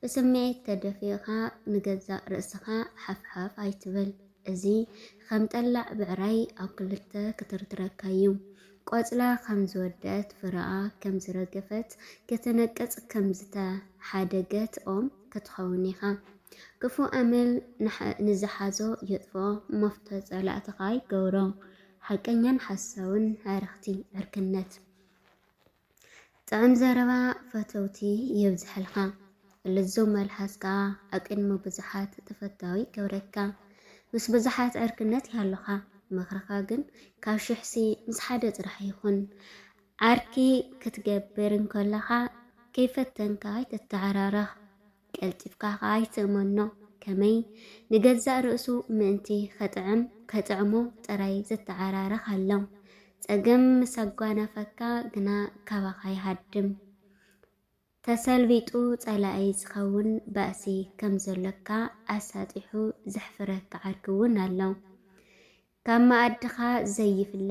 ብስምዒት ተደፊእኻ ንገዛእ ርእስኻ ሓፍሓፍ ኣይትበል። እዚ ኸም ጠላዕ ብዕራይ ኣብ ክልተ ክትርትረካ እዩ። ቆጽላ ከም ዝወደኣት ፍረኣ ከም ዝረገፈት ክትነቅጽ ከም ዝተሓደገት ኦም ክትኸውን ኢኻ። ክፉእ ኣመል ንዝሓዞ የጥፍኦ፣ መፍቶ ጸላእትኻ ይገብሮ። ሓቀኛን ሓሳውን ዕርኽቲ፣ ዕርክነት። ጥዑም ዘረባ ፈተውቲ የብዝሐልካ ልዙብ መልሓስ ከኣ ኣቅድሚ ብዙሓት ተፈታዊ ይገብረካ ምስ ብዙሓት ዕርክነት ይሃሉካ ምክርካ ግን ካብ ሽሕሲ ምስ ሓደ ጥራሕ ይኹን ዓርኪ ክትገብር እንከለካ ከይፈተንካ ኣይትተዓራረኽ ቀልጢፍካ ኸኣ ይትእመኖ፣ ከመይ ንገዛእ ርእሱ ምእንቲ ኸጥዕም ከጥዕሞ ጥራይ ዝተዓራረኽ ኣሎ። ጸገም ምስ ኣጓናፈካ ግና ካባኻ ይሃድም። ተሰልቢጡ ጸላኢ ዝኸውን ባእሲ ከም ዘሎካ ኣሳጢሑ ዘሕፍረካ ዓርኪ እውን ኣሎ። ካብ መኣድኻ ዘይፍለ፣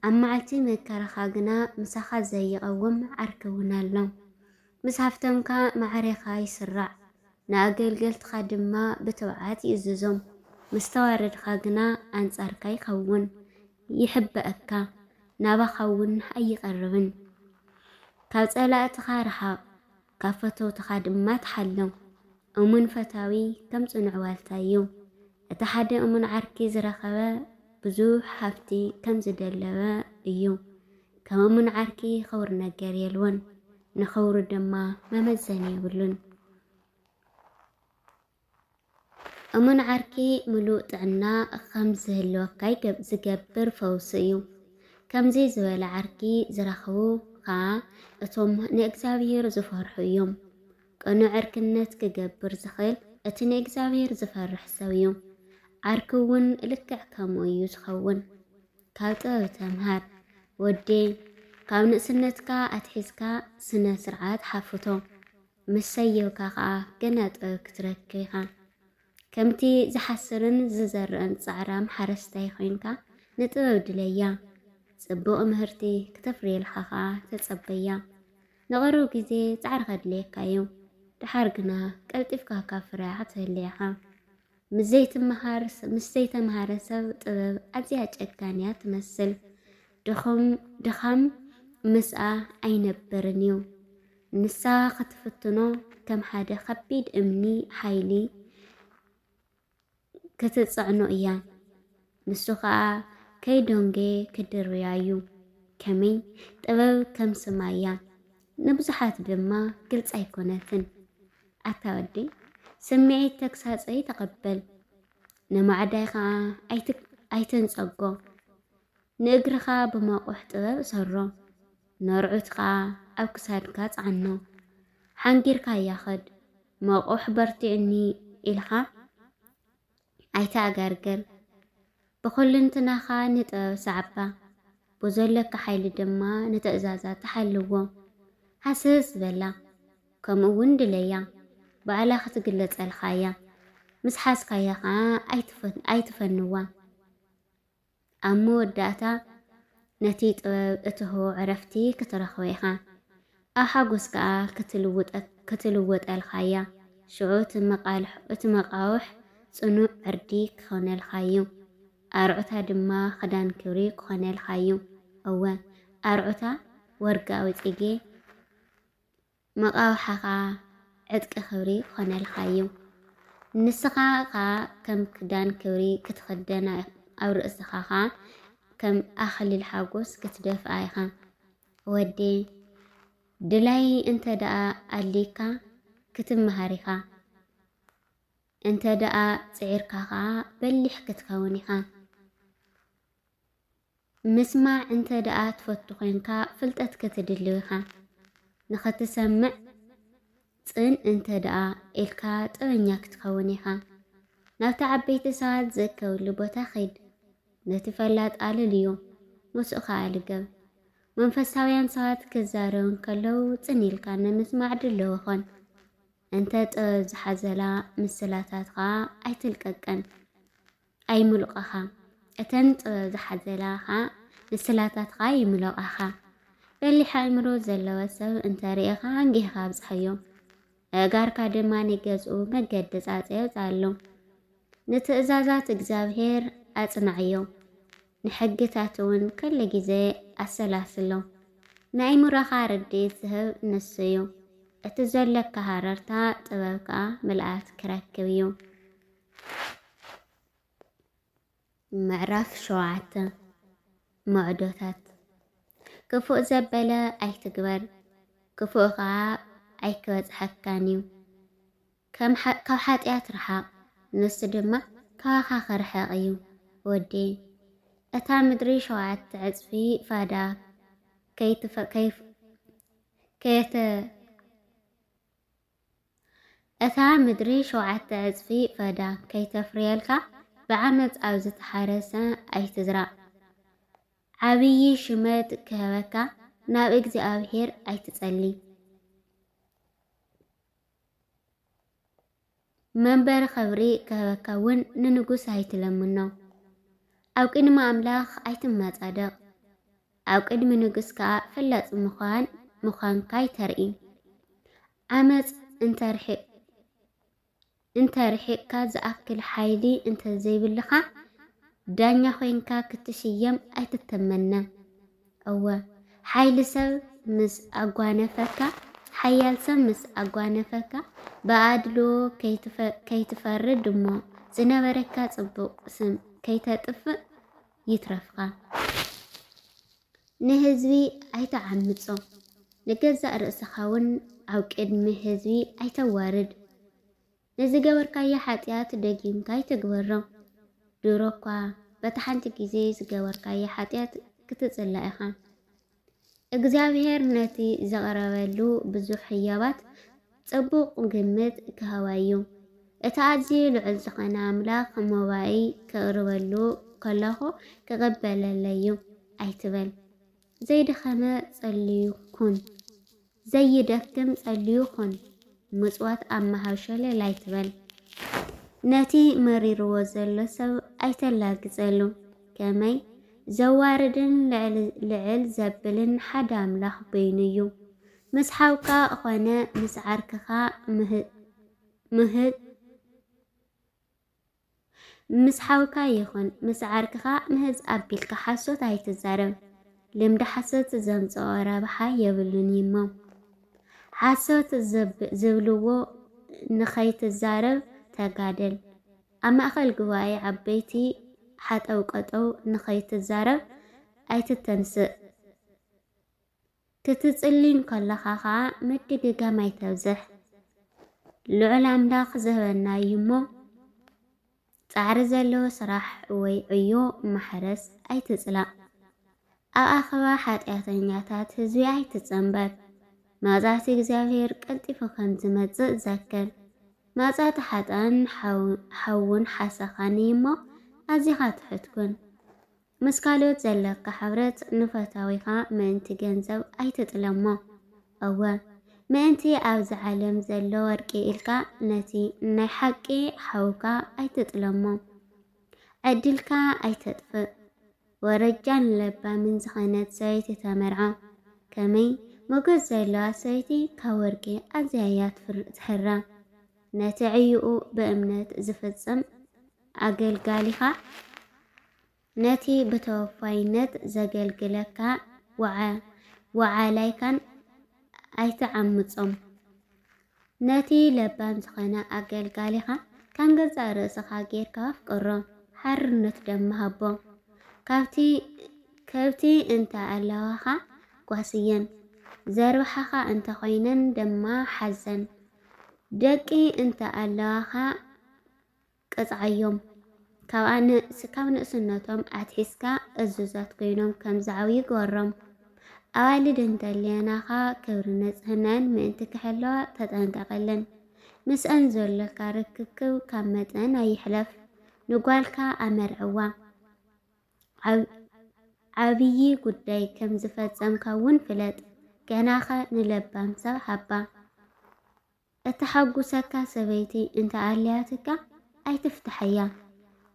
ኣብ መዓልቲ መከራኻ ግና ምሳኻ ዘይቐውም ዓርኪ እውን ኣሎ። ምስ ሃብተምካ ማዕሬኻ ይስራዕ፣ ንኣገልገልትኻ ድማ ብትብዓት ይእዝዞም፣ ምስ ተዋረድካ ግና ኣንጻርካ ይኸውን፣ ይሕበእካ፣ ናባኻ እውን ኣይቐርብን። ካብ ጸላእትኻ ርሓቕ። ካብ ፈተውትኻ ድማ ትሓሉ። እሙን ፈታዊ ከም ጽኑዕ ዋልታ እዩ። እቲ ሓደ እሙን ዓርኪ ዝረኸበ ብዙሕ ሃብቲ ከም ዝደለበ እዩ። ከም እሙን ዓርኪ ኽቡር ነገር የልቦን፣ ንኽብሩ ድማ መመዘኒ የብሉን። እሙን ዓርኪ ምሉእ ጥዕና ኸም ዝህልወካ ዝገብር ፈውሲ እዩ። ከምዚ ዝበለ ዓርኪ ዝረኽቡ ኸኣ እቶም ንእግዚኣብሄር ዝፈርሑ እዮም። ቅኑዕ ዕርክነት ክገብር ዝኽእል እቲ ንእግዚኣብሄር ዝፈርሕ ሰብ እዩ። ዓርኪ እውን ልክዕ ከምኡ እዩ ዝኸውን። ካብ ጥበብ ተምሃር ወዴ ካብ ንእስነትካ ኣትሒዝካ ስነ ስርዓት ሓፍቶ ምስ ሰየብካ ከኣ ገና ጥበብ ክትረክብ ኢኻ። ከምቲ ዝሓስርን ዝዘርእን ጻዕራም ሓረስታይ ኮይንካ ንጥበብ ድለያ። ጽቡቕ ምህርቲ ክተፍርየልካ ከኣ ተጸበያ። ንቕሩብ ግዜ ጻዕሪ ከድልየካ'ዩ፣ ደሓር ግና ቀልጢፍካ ካብ ፍረ ክትህሊ ኢኻ። ምስ ዘይትመሃር ምስ ዘይተምሃረ ሰብ ጥበብ ኣዝያ ጨካንያ ትመስል ድኹም ድኻም ምስኣ ኣይነብርን እዩ ንሳ ክትፍትኖ ከም ሓደ ከቢድ እምኒ ሓይሊ ክትጽዕኖ እያ። ንሱ ኸኣ ከይ ዶንጌ ክድርብያ እዩ። ከመይ? ጥበብ ከም ስማ እያ፣ ንብዙሓት ድማ ግልጺ ኣይኮነትን። ኣታ ወዲ ስምዒት ተግሳጸይ ተቐበል፣ ንማዕዳይ ኸኣ ኣይትንጸጎ። ንእግርኻ ብመቑሕ ጥበብ እሰሮ፣ ነርዑት ኸኣ ኣብ ክሳድካ ጸዓኖ። ሓንጊርካያ ኸድ፣ መቑሕ በርቲዑኒ ኢልካ ኣይትኣጋርግር ብኹልንትናኻ ንጥበብ ሰዓባ ብዘለካ ሓይሊ ድማ ንትእዛዛታ ሓልዎ ሃስስ በላ ከምኡ እውን ድለያ ባዕላ ክትግለጸልካ እያ ምስ ሓዝካያ ኸዓ ኣይትፈንዋ ኣብ መወዳእታ ነቲ ጥበብ እትህቦ ዕረፍቲ ክትረኽቦ ኢኻ፣ ኣብ ሓጎስ ከኣ ክትልወጠልካ እያ። ሽዑ እቲ መቓውሕ ጽኑዕ ዕርዲ ክኾነልካ እዩ፣ ኣርዑታ ድማ ክዳን ክብሪ ክኾነልካ እዩ፣ እወ፣ ኣርዑታ ወርቃዊ ጽጌ። መቓውሓኻ ዕጥቂ ክብሪ ክኾነልካ እዩ፣ ንስኻ ኸኣ ከም ክዳን ክብሪ ክትኽደን ኣብ ርእስኻ ኸኣ ከም ኣኽሊል ሓጎስ ክትደፍኣ ኢኻ። ወደየ፣ ድላይ እንተ ደኣ ኣልዩካ ክትመሃር ኢኻ፣ እንተ ደኣ ጽዒርካ ኸኣ በሊሕ ክትከውን ኢኻ። ምስማዕ እንተ ደኣ ትፈቱ ዄንካ፣ ፍልጠት ክትድሊ ኢኻ። ንኽትሰምዕ ጽን እንተ ደኣ ኢልካ፣ ጥበኛ ክትከውን ኢኻ። ናብቲ ዓበይቲ ሰባት ዚእከብሉ ቦታ ኺድ። ነቲ ፈላጥ ኣለልዮ፣ ምስኡ ኸኣ ልገብ። መንፈሳውያን ሰባት ኪዛረቡ እንከለዉ ጽን ኢልካ ንምስማዕ ድልው ኹን። እንተ ጥበብ ዝሓዘላ ምስላታት ኸኣ ኣይትልቀቀን። ኣይምሉቐኻ፣ እተን ጥበብ ዝሓዘላ ኸኣ ንስላታትካ ይምሎቓኻ። በሊሕ ኣእምሮ ዘለዎ ሰብ እንተ ርኢኻ ኣንጊህኻ ኣብጽሐዮ፣ ኣእጋርካ ድማ ንገዝኡ መገዲ ጻጸዮ ጻሎ። ንትእዛዛት እግዚኣብሄር ኣጽንዓዮ፣ ንሕግታቱ እውን ኩሉ ግዜ ኣሰላስሎ። ንኣእምሮኻ ርድኢት ዝህብ ንሱ እዩ፣ እቲ ዘሎካ ሃረርታ ጥበብ ከኣ ምልኣት ክረክብ እዩ። ምዕራፍ ሸውዓተ መዕዶታት ክፉእ ዘበለ ኣይትግበር፣ ክፉእ ኸዓ ኣይክበጽሐካን እዩ። ካብ ሓጢኣት ርሓቕ፣ ንሱ ድማ ካባኻ ክርሕቕ እዩ። ወዲ እታ ምድሪ ሸውዓተ ዕጽፊ ፋዳ ከይተ እታ ምድሪ ሸውዓተ ዕጽፊ ፈዳ ከይተፍርየልካ፣ ብዓመጽ ኣብ ዝተሓረሰ ኣይትዝራእ። ዓብዪ ሽመት ክህበካ፣ ናብ እግዚኣብሄር ኣይትጸሊ። መንበሪ ኽብሪ ክህበካ እውን ንንጉስ ኣይትለምኖ። ኣብ ቅድሚ ኣምላኽ ኣይትመጻደቕ። ኣብ ቅድሚ ንግስ ከኣ ፈላጽ ምዃን ምዃንካይ ተርኢ። ዓመጽ እንተ ርሒቅ እንተ ርሒቅካ ዝኣክል ሓይሊ እንተ ዘይብልካ ዳኛ ኮይንካ ክትሽየም ኣይትተመነ። እወ ሓይሊ ሰብ ምስ ኣጓነፈካ ሓያል ሰብ ምስ ኣጓነፈካ ብኣድልዎ ከይትፈርድ እሞ ዝነበረካ ጽቡቅ ስም ከይተጥፍእ ይትረፍካ ንህዝቢ ኣይተዓምጾ፣ ንገዛእ ርእስኻ እውን ኣብ ቅድሚ ህዝቢ ኣይተዋርድ። ንዝገበርካዮ ሓጢኣት ደጊምካ ኣይትግበሮ። ድሮ እኳ በታ ሓንቲ ግዜ ዝገበርካዮ ሓጢኣት ክትጽላእ ኢኻ። እግዚኣብሄር ነቲ ዚቕረበሉ ብዙሕ ህያባት ጽቡቕ ግምት ኪህባ እዩ። እቲ ኣዝዩ ልዑል ዝዀነ ኣምላኽ መባኢ ኬቕርበሉ ከለኹ ኪቕበለለይ'ዩ ኣይትበል። ዘይደኸመ ጸልዩ ኩን። ዘይደክም ጸልዩ ኹን ምጽዋት ኣብ ምሃብ ሸለል ኣይትበል። ነቲ መሪርዎ ዘሎ ሰብ ኣይተላግጸሉ። ከመይ ዘዋርድን ልዕል ልዕል ዘብልን ሓደ ኣምላኽ በይኑ እዩ። ምስ ሓውካ ኾነ ምስ ዓርክኻ ምህጥ ምህጥ ምስ ሓውካ ይኹን ምስ ዓርክኻ ምህዝ ኣቢልካ ሓሶት ኣይትዛረብ። ልምዲ ሓሶት ዘምጽኦ ረብሓ የብሉን እዩሞ ሓሶት ዝብልዎ ንኸይትዛረብ ተጋደል። ኣብ ማእኸል ጉባኤ ዓበይቲ ሓጠው ቀጠው ንኸይትዛረብ ኣይትተንስእ። ክትጽሊ እንከለኻ ኸኣ ምድግጋም ኣይተብዝሕ። ልዑል ኣምላኽ ዝህበና እዩ እሞ ጻዕሪ ዘለዎ ስራሕ ወይ ዕዮ ማሕረስ ኣይትጽላእ። ኣብ ኣኸባ ሓጢኣተኛታት ህዝቢ ኣይትጸንበር። መቕጻዕቲ እግዚኣብሔር ቀልጢፉ ከም ዝመጽእ ዘክር። መቕጻዕቲ ሓጥኣን ሓውን ሓሰኻን እዩ እሞ ኣዚኻ ትሑት ኩን። ምስ ካልኦት ዘለካ ሕብረት ንፈታዊኻ ምእንቲ ገንዘብ ኣይትጥለሞ። እወ፣ ምእንቲ ኣብዚ ዓለም ዘሎ ወርቂ ኢልካ ነቲ ናይ ሓቂ ሓውካ ኣይትጥለሞ። ዕድልካ ኣይተጥፍእ። ወረጃን ለባምን ዝኸነት ሰበይቲ ተመርዖ። ከመይ ሞገስ ዘለዋ ሰበይቲ ካብ ወርቂ ኣዝያ እያ ትሕረ። ነቲ ዕዩኡ ብእምነት ዝፍጽም ኣገልጋሊኻ ነቲ ብተወፋይነት ዘገልግለካ ወዓላይካን ኣይትዓምጾም። ነቲ ለባም ዝኸነ ኣገልጋሊኻ ከም ገዛእ ርእስኻ ጌርካ ኣፍቅሮ፣ ሓርነት ደማ ሃቦ። ካብቲ ከብቲ እንተ ኣለዋኻ ጓስየን፣ ዘርብሓኻ እንተ ኮይነን ደማ ሓዘን። ደቂ እንተ ኣለዋኻ ቅጽዓዮም። ካብኣ ን ካብ ንእስነቶም ኣትሒዝካ እዙዛት ኮይኖም ከም ዝዓብዩ ግበሮም። ኣዋልድ እንተልየናኻ ክብርን ንጽህናኣን ምእንቲ ክሕለዋ ተጠንቀቐለን። ምስኣን ዘሎካ ርክክብ ካብ መጠን ኣይሕለፍ። ንጓልካ ኣመርዕዋ። ዓብ ዓብዪ ጉዳይ ከም ዝፈጸምካ እውን ፍለጥ። ገናኸ ንለባም ሰብ ሃባ። እተሓጉሰካ ሰበይቲ እንተ ኣልያትካ ኣይትፍታሓያ፣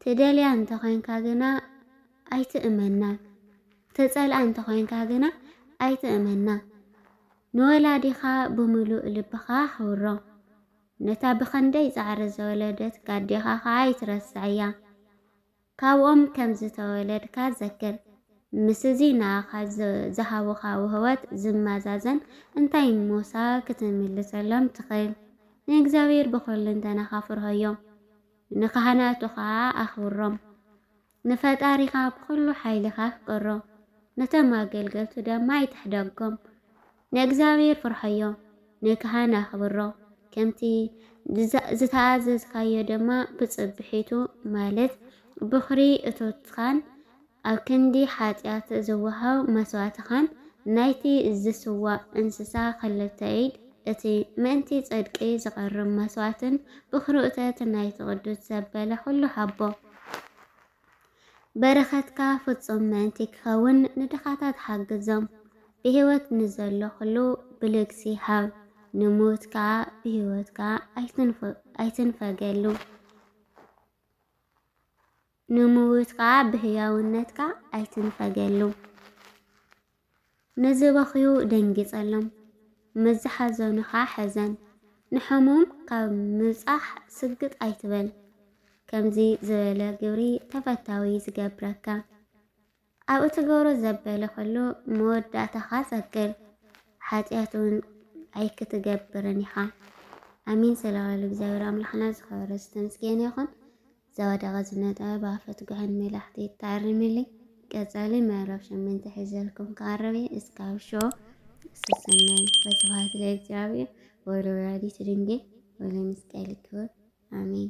ትደልያ እንተ ዄንካ ግና ኣይትእመና፣ እተጸልኣ እንተ ዄንካ ግና ኣይትእመና። ንወላዲኻ ብምሉእ ልብኻ ኣኽብሮ፣ ነታ ብኽንደይ ጻዕሪ ዝወለደትካ ኣዴኻ ኸኣ ኣይትረስዓያ። ካብኦም ከም ዝተወለድካ ዘክር። ምስዚ ንኣኻ ዝሃቡኻ ውህበት ዝመዛዘን እንታይ ሞሳ ክትምልሰሎም ትኽእል? ንእግዚኣብሄር ብኹልንተናኻ ፍርሆዮ፣ ንካህናቱ ኸኣ ኣኽብሮም። ንፈጣሪኻ ብኹሉ ሓይልኻ ኣፍቅሮ፣ ነቶም ኣገልገልቱ ደማ ኣይትሕደጎም። ንእግዚኣብሄር ፍርሖዮ፣ ንካህን ኣኽብሮ፣ ከምቲ ዝተኣዘዝካዮ ድማ ብጽብሒቱ፣ ማለት ብዅሪ እቶትካን ኣብ ክንዲ ሓጢኣት ዝወሃብ መስዋእትኻን፣ ናይቲ ዝስዋእ እንስሳ ኽልተ ኢድ፣ እቲ ምእንቲ ጽድቂ ዝቐርብ መስዋእትን ብዅሪ እቶት ናይቲ ቕዱስ ዘበለ ዅሉ ሃቦ። በረኸትካ ፍጹም ምእንቲ ኪኸውን ንድኻታት ሓግዞም፣ ብህይወት ንዘሎ ዅሉ ብልግሲ ሃብ፣ ንምዉት ከኣ ብህይወት ከኣ ኣይትንፈገሉ። ንምዉት ከኣ ብህያውነትካ ኣይትንፈገሉ። ንዝበኽዩ ደንጊጸሎም፣ ንዝሓዘኑ ኸኣ ሕዘን፣ ንሕሙም ካብ ምብጻሕ ስግጥ ኣይትበል። ከምዚ ዝበለ ግብሪ ተፈታዊ ዝገብረካ፣ ኣብ እትገብሮ ዘበለ ኹሉ መወዳእታኻ ጸግብ፣ ሓጢኣትውን ኣይክትገብርን ኢኻ። ኣሜን ስለበሉ እግዚኣብሔር ኣምላኽና ዝኸበረ ዝተምስገነ ይኹን። ዘወደቐ ዝነጠበ ባፈትጉሕን ሜላሕቲ ተኣርሚሊ ቀጸሊ ምዕራፍ ሸመንተ ሒዘልኩም ክቐርብ እየ እስካብ ሾ ሰሰናይ ወስብሐት ለእግዚኣብሔር ወለወላዲቱ ድንግል ወለመስቀሉ ክቡር አሜን።